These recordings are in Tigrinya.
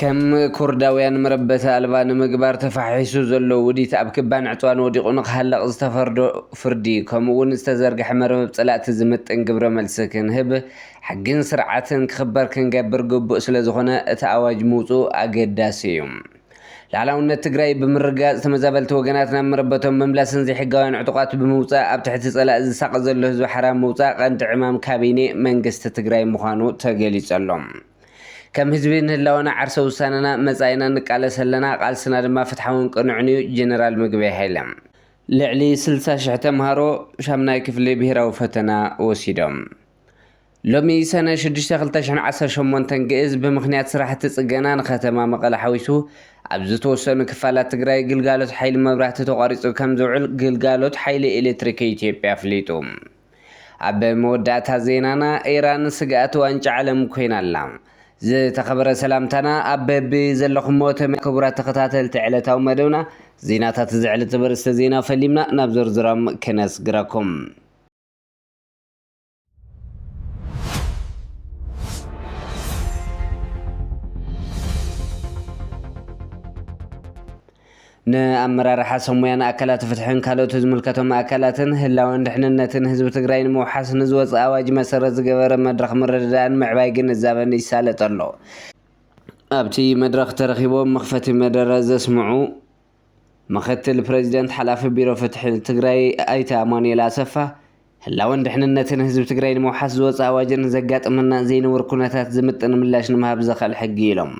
ከም ኩርዳውያን መረበቲ ኣልባ ንምግባር ተፋሒሱ ዘሎ ውዲት ኣብ ክባን ዕጽዋን ወዲቑ ንክሃለቕ ዝተፈርዶ ፍርዲ ከምኡ እውን ዝተዘርገሐ መርበብ ጸላእቲ ዝምጥን ግብረ መልሲ ክንህብ ሕግን ስርዓትን ክኽበር ክንገብር ግቡእ ስለዝኾነ እቲ ኣዋጅ ምውጽኡ ኣገዳሲ እዩ። ላዕላውነት ትግራይ ብምርግጋፅ ተመዛበልቲ ወገናት ናብ መረበቶም ምምላስን ዘይሕጋውያን ዕጡቓት ብምውፃእ ኣብ ትሕቲ ፀላኢ ዝሳቐ ዘሎ ህዝቢ ሓራ ምውፃእ ቀንዲ ዕማም ካቢኔ መንግስቲ ትግራይ ምዃኑ ተገሊፁ ኣሎ። ከም ህዝቢ ንህላወና ዓርሰ ውሳነና መፃኢና ንቃለስ ኣለና፣ ቃልስና ድማ ፍትሓውን ቅኑዕን እዩ ጀነራል ምግበይ ሃይለ። ልዕሊ ስልሳ ሽሕ ተምሃሮ ሻምናይ ክፍሊ ብሄራዊ ፈተና ወሲዶም። ሎሚ ሰነ ሽዱሽተ ክልተ ሽሕን ዓሰርተ ሸሞንተን ግእዝ ብምኽንያት ስራሕቲ ፅገና ንከተማ መቐለ ሓዊሱ ኣብ ዝተወሰኑ ክፋላት ትግራይ ግልጋሎት ሓይሊ መብራህቲ ተቋሪፁ ከምዝውዕል ግልጋሎት ሓይሊ ኤሌክትሪክ ኢትዮጵያ ኣፍሊጡ። ኣብ መወዳእታ ዜናና ኢራን ስግኣት ዋንጫ ዓለም ኮይና ኣላ። ዝተኸበረ ሰላምታና ኣብ በቢ ዘለኹሞ ተመ ክቡራት ተኸታተልቲ ዕለታዊ መደብና ዜናታት እዚ ዕለት ዘበርስተ ዜና ፈሊምና ናብ ዝርዝሮም ክነስግረኩም። ንኣመራርሓ ሰሙያን ኣካላት ፍትሕን ካልኦት ዝምልከቶም ኣካላትን ህላወን ድሕንነትን ህዝቢ ትግራይ ንምውሓስ ንዝወፅ ኣዋጅ መሰረት ዝገበረ መድረኽ ምርድዳእን ምዕባይ ግንዛበን ይሳለጥ ኣሎ። ኣብቲ መድረኽ ተረኺቦም መኽፈቲ መደረ ዘስምዑ ምክትል ፕረዚደንት ሓላፊ ቢሮ ፍትሒ ትግራይ ኣይተ ኣማኑኤል ኣሰፋ፣ ህላወን ድሕንነትን ህዝቢ ትግራይ ንምውሓስ ዝወፀ ኣዋጅን ንዘጋጥመና ዘይንቡር ኩነታት ዝምጥን ምላሽ ንምሃብ ዘኽእል ሕጊ እዩ ኢሎም።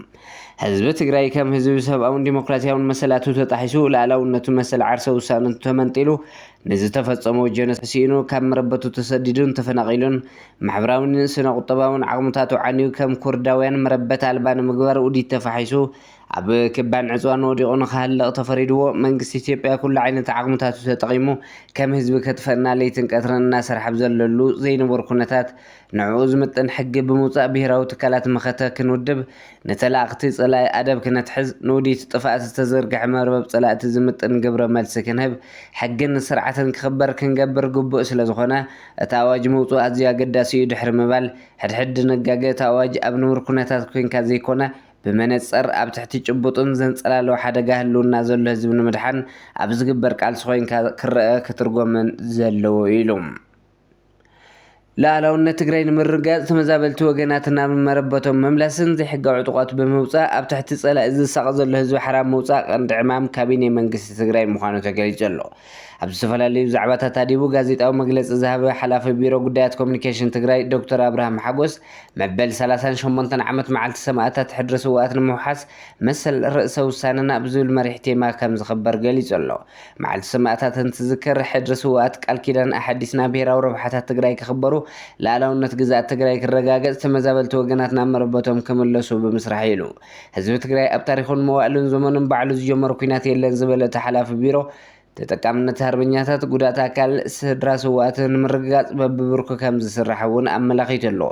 ህዝቢ ትግራይ ከም ህዝቢ ብሰብኣውን ዲሞክራሲያውን መሰላቱ ተጣሒሱ፣ ልኣላውነቱ መሰል ዓርሰ ውሳነቱ ተመንጢሉ፣ ንዝተፈፀሞ ጀኖሳይድ ስኢኑ፣ ካብ መረበቱ ተሰዲዱን ተፈናቒሉን፣ ማሕበራዊን ስነ-ቁጠባውን ዓቕምታቱ ዓንዩ ከም ኩርዳውያን መረበት ኣልባ ንምግባር ውዲት ተፋሒሱ፣ ኣብ ክባን ዕፅዋን ወዲቑ ንክሃልቕ ተፈሪድዎ መንግስቲ ኢትዮጵያ ኩሉ ዓይነት ዓቕምታቱ ተጠቒሙ ከም ህዝቢ ከጥፈእና ለይትን ቀትርን እናሰርሐ ኣብ ዘለሉ ዘይንቡር ኩነታት ንዕኡ ዝምጥን ሕጊ ብምውፃእ ብሄራዊ ትካላት መኸተ ክንውድብ ንተላእኽቲ ፀላኢ ኣደብ ክነትሕዝ ንውዲት ጥፍኣት ዝተዘርገሐ መርበብ ፀላእቲ ዝምጥን ግብረ መልሲ ክንህብ ሕግን ስርዓትን ክኽበር ክንገብር ግቡእ ስለዝኾነ እቲ ኣዋጅ ምውፅኡ ኣዝዩ ኣገዳሲ እዩ ድሕሪ ምባል ሕድሕድ ድንጋገ እቲ ኣዋጅ ኣብ ንቡር ኩነታት ኮይንካ ዘይኮነ ብመነፀር ኣብ ትሕቲ ጭቡጥን ዘንፀላልው ሓደጋ ህልውና ዘሎ ህዝቢ ንምድሓን ኣብ ዝግበር ቃልሲ ኮይንካ ክረኣ ክትርጎምን ዘለዎ እዩ ኢሉ። ሉኣላውነት ትግራይ ንምርግጋፅ ተመዛበልቲ ወገናት ናብ መረበቶም ምምላስን ዘይሕጋዊ ዕጡቋት ብምውፃእ ኣብ ትሕቲ ፀላኢ ዝሳቐ ዘሎ ህዝቢ ሓራ ምውፃእ ቀንዲ ዕማም ካቢኔ መንግስቲ ትግራይ ምዃኑ ተገሊፁ ኣሎ። ኣብ ዝተፈላለዩ ዛዕባታት ኣድሂቡ ጋዜጣዊ መግለፂ ዝሃበ ሓላፊ ቢሮ ጉዳያት ኮሚኒኬሽን ትግራይ ዶክተር ኣብርሃም ሓጎስ መበል ሰላሳን ሸሞንተን ዓመት መዓልቲ ሰማእታት ሕድሪ ስውኣት ንምውሓስ መሰል ርእሰ ውሳነና ብዝብል መሪሕ ቴማ ከምዝኽበር ገሊፁ ኣሎ። መዓልቲ ሰማእታት እንትዝከር ሕድሪ ስውኣት ቃል ኪዳን ኣሓዲስና ብሄራዊ ረብሓታት ትግራይ ክኽበሩ፣ ልኣላውነት ግዝኣት ትግራይ ክረጋገፅ፣ ተመዛበልቲ ወገናት ናብ መረበቶም ክምለሱ ብምስራሕ ኢሉ ህዝቢ ትግራይ ኣብ ታሪኹን መዋእልን ዘመኑን ባዕሉ ዝጀመሮ ኩናት የለን ዝበለ እቲ ሓላፊ ቢሮ፣ ተጠቃምነት ሃርበኛታት፣ ጉዳእት ኣካል፣ ስድራ ስውኣት ንምርግጋፅ በቢብርኩ ከምዝስራሕ እውን ኣመላኺቱ ኣሎ።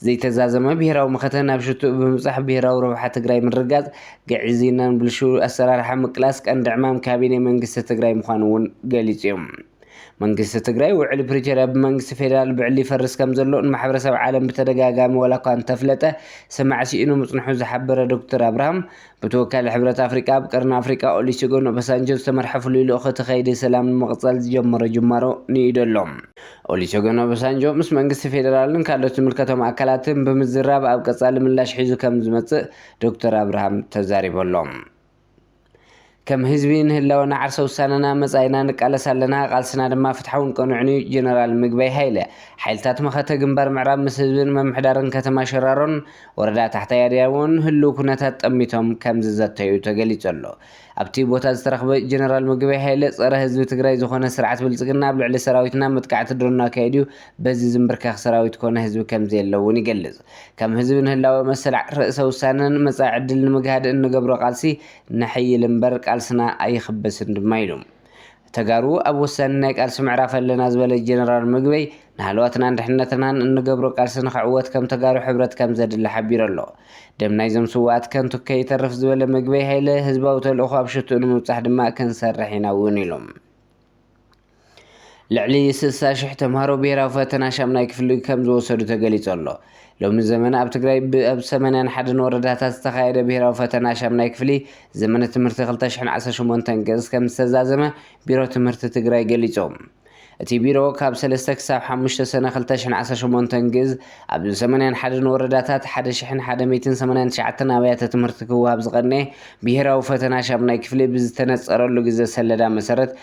ዘይተዛዘመ ብሄራዊ መኸተ ናብ ሽትኡ ብምብፃሕ ብሄራዊ ረብሓ ትግራይ ምርግጋፅ፣ ግዕዝይናን ብልሽው ኣሰራርሓ ምቅላስ ቀንዲ ዕማም ካቢኔ መንግስቲ ትግራይ ምዃኑ እውን ገሊፁ እዩ። መንግስቲ ትግራይ ውዕሊ ፕሪቶርያ ብመንግስቲ ፌዴራል ብዕሊ ይፈርስ ከምዘሎ ንማሕበረሰብ ዓለም ብተደጋጋሚ ዋላኳ እንተፍለጠ ሰማዒ ስኢኑ ምፅንሑ ዝሓበረ ዶክተር ኣብርሃም በቲ ወካሊ ሕብረት ኣፍሪቃ ኣብ ቀርኒ ኣፍሪቃ ኦሊሴጎን ኦባሳንጆ ዝተመርሐ ፍሉይ ልኡኽ እቲ ከይዲ ሰላም ንምቕፃል ዝጀመሮ ጅማሮ ንኢዱ ኣሎ። ኦሊሴጎን ኦባሳንጆ ምስ መንግስቲ ፌዴራልን ካልኦት ዝምልከቶም ኣካላትን ብምዝራብ ኣብ ቀፃሊ ምላሽ ሒዙ ከምዝመፅእ ዶክተር ኣብርሃም ተዛሪቡ ኣሎ። ከም ህዝቢ ንህላወና ዓርሰ ውሳነና መፃኢና ንቃለስ ኣለና፣ ቃልስና ድማ ፍትሓውን ቅኑዕን እዩ ጀነራል ምግበይ ሃይለ። ሓይልታት መኸተ ግንባር ምዕራብ ምስ ህዝብን ምምሕዳርን ከተማ ሸራሮን ወረዳ ታሕታይ ኣድያቦን ህልው ኩነታት ጠሚቶም ከም ዝዘተዩ ተገሊፁ ኣሎ። ኣብቲ ቦታ ዝተረኽበ ጀነራል ምግበይ ሃይለ ፀረ ህዝቢ ትግራይ ዝኾነ ስርዓት ብልፅግና ኣብ ልዕሊ ሰራዊትና መጥቃዕቲ ድሮን ኣካይዱ በዚ ዝምብርከኽ ሰራዊት ኮነ ህዝቢ ከም ዘየለ እውን ይገልፅ። ከም ህዝቢ ንህላወ መሰል ርእሰ ውሳነን መጻኢ ዕድል ንምግሃድ እንገብሮ ቃልሲ ነሐይል እምበር ቃልስና ኣይኽበስን ድማ ኢሉ። ተጋሩ ኣብ ወሳኒ ናይ ቃልሲ ምዕራፍ ኣለና ዝበለ ጀነራል ምግበይ፣ ንሃለዋትናን ድሕነትናን እንገብሮ ቃልሲ ንኽዕወት ከም ተጋሩ ሕብረት ከም ዘድሊ ሓቢሩ ኣሎ። ደም ናይዞም ስውኣት ከንቱ ከይተርፍ ዝበለ ምግበይ ሃይለ፣ ህዝባዊ ተልእኾ ኣብ ሽትኡ ንምብጻሕ ድማ ክንሰርሕ ኢና እውን ኢሉ። ልዕሊ ስልሳ ሽሕ ተምሃሮ ብሄራዊ ፈተና ሻምናይ ክፍሊ ከም ዝወሰዱ ተገሊጹ ኣሎ። ሎሚ ዘመን ኣብ ትግራይ ብኣብ ሰመንያን ሓደን ወረዳታት ዝተኻየደ ብሄራዊ ፈተና ሻምናይ ክፍሊ ዘመነ ትምህርቲ 2018 ገጽ ከም ዝተዛዘመ ቢሮ ትምህርቲ ትግራይ ገሊጹ። እቲ ቢሮ ካብ 3 ክሳብ 5 ሰነ 2018 ግዝ ኣብ ሰመንያን ሓደን ወረዳታት 1189 ኣብያተ ትምህርቲ ክወሃብ ዝቐነየ ብሄራዊ ፈተና ሻምናይ ክፍሊ ብዝተነጸረሉ ግዘ ሰለዳ መሰረት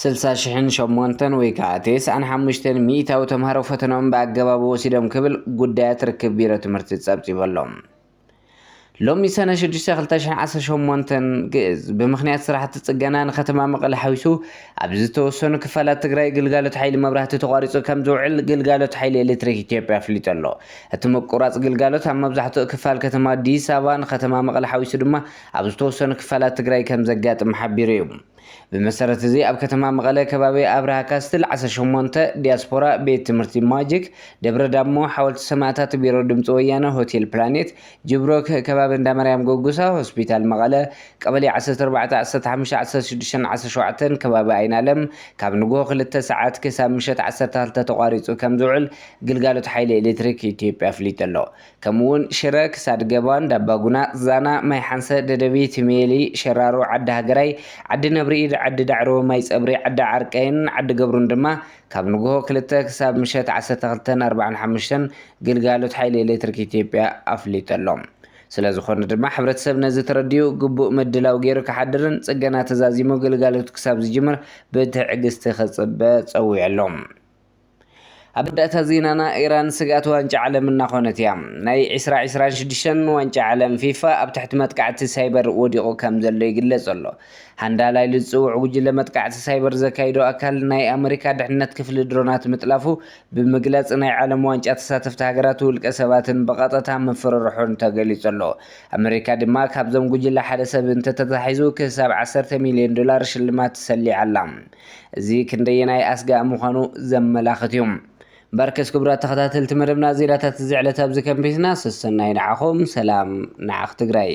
ስልሳ ሽሕን ሸሞንተን ወይ ከዓ ቴስዓን ሓሙሽተን ሚኢታዊ ተምሃሮ ፈተንኦም ብኣገባቡ ወሲዶም ክብል ጉዳያት ርክብ ቢሮ ትምህርቲ ፀብፂቡ ኣሎ። ሎሚ ሰነ ሽዱሽተ ክልተ ሽሕን ዓሰርተ ሸሞንተን ግእዝ ብምኽንያት ስራሕቲ ፅገና ንከተማ መቐለ ሓዊሱ ኣብ ዝተወሰኑ ክፋላት ትግራይ ግልጋሎት ሓይሊ መብራህቲ ተቋሪፁ ከምዝውዕል ግልጋሎት ሓይሊ ኤሌክትሪክ ኢትዮጵያ ኣፍሊጡ ኣሎ። እቲ ምቁራፅ ግልጋሎት ኣብ መብዛሕትኡ ክፋል ከተማ ኣዲስ ኣበባን ከተማ መቐለ ሓዊሱ ድማ ኣብ ዝተወሰኑ ክፋላት ትግራይ ከምዘጋጥም ሓቢሩ እዩ። ብመሰረት እዚ ኣብ ከተማ መቐለ ከባቢ ኣብርሃ ካስትል ዓሰርተ ሸሞንተ ዲያስፖራ ቤት ትምህርቲ ማጂክ ደብረ ዳሞ ሓወልቲ ሰማእታት ቢሮ ድምፂ ወያነ ሆቴል ፕላኔት ጅብሮክ ከባቢ እንዳማርያም ጎጉሳ ሆስፒታል መቐለ ቀበሌ ዓሰርተ ኣርባዕተ ዓሰርተ ሓሙሽተ ዓሰርተ ሽዱሽተን ዓሰርተ ሸውዓተን ከባቢ ኣይናለም ካብ ንጉሆ ክልተ ሰዓት ክሳብ ምሸት ዓሰርተ ክልተ ተቋሪፁ ከምዝውዕል ግልጋሎት ሓይሊ ኤሌክትሪክ ኢትዮጵያ ኣፍሊጡ ኣሎ። ከምኡ ውን ሽረ ክሳድ ገባ እንዳባጉና ዛና ማይ ሓንሰ ደደቢት ሜሊ ሸራሮ ዓዲ ሃገራይ ዓዲ ነብሪ ኢድ ዓዲ ዳዕሮ ማይ ጸብሪ ዓዲ ዓርቀይን ዓዲ ገብሩን ድማ ካብ ንግሆ ክልተ ክሳብ ምሸት ዓሰርተ ክልተን ኣርብዓን ሓሙሽተን ግልጋሎት ሓይሊ ኤሌክትሪክ ኢትዮጵያ ኣፍሊጡ ኣሎ። ስለዝኾነ ድማ ሕብረተሰብ ነዚ ተረዲኡ ግቡእ ምድላው ገይሩ ክሓድርን ጽገና ተዛዚሙ ግልጋሎት ክሳብ ዝጅምር ብትዕግስቲ ክጽበ ጸዊዑ ኣሎ። ኣብ መወዳእታ ዜናና ኢራን ስግኣት ዋንጫ ዓለም እናኾነት እያ። ናይ ዕስራ ዕስራን ሽዱሽተን ዋንጫ ዓለም ፊፋ ኣብ ትሕቲ መጥቃዕቲ ሳይበር ወዲቑ ከምዘሎ ይግለጽ ኣሎ። ሃንዳላ ኢሉ ዝጽውዕ ጉጅለ መጥቃዕቲ ሳይበር ዘካይዶ ኣካል ናይ ኣመሪካ ድሕነት ክፍሊ ድሮናት ምጥላፉ ብምግላጽ ናይ ዓለም ዋንጫ ተሳተፍቲ ሃገራት ውልቀ ሰባትን ብቐጠታ ምፍርርሑን ተገሊጹ ኣሎ። ኣመሪካ ድማ ካብዞም ጉጅለ ሓደ ሰብ እንተተታሒዙ ክሳብ ዓሰርተ ሚልዮን ዶላር ሽልማት ሰሊዓ ኣላ። እዚ ክንደየናይ ኣስጋኢ ምዃኑ ዘመላኽት እዩ። በርክስ ክቡራት ተኸታተልቲ መደብና ዜናታት እዚ ዕለት ኣብዚ ከንቢትና ሰሰናዩ ንዓኹም ሰላም ንዓኽ ትግራይ።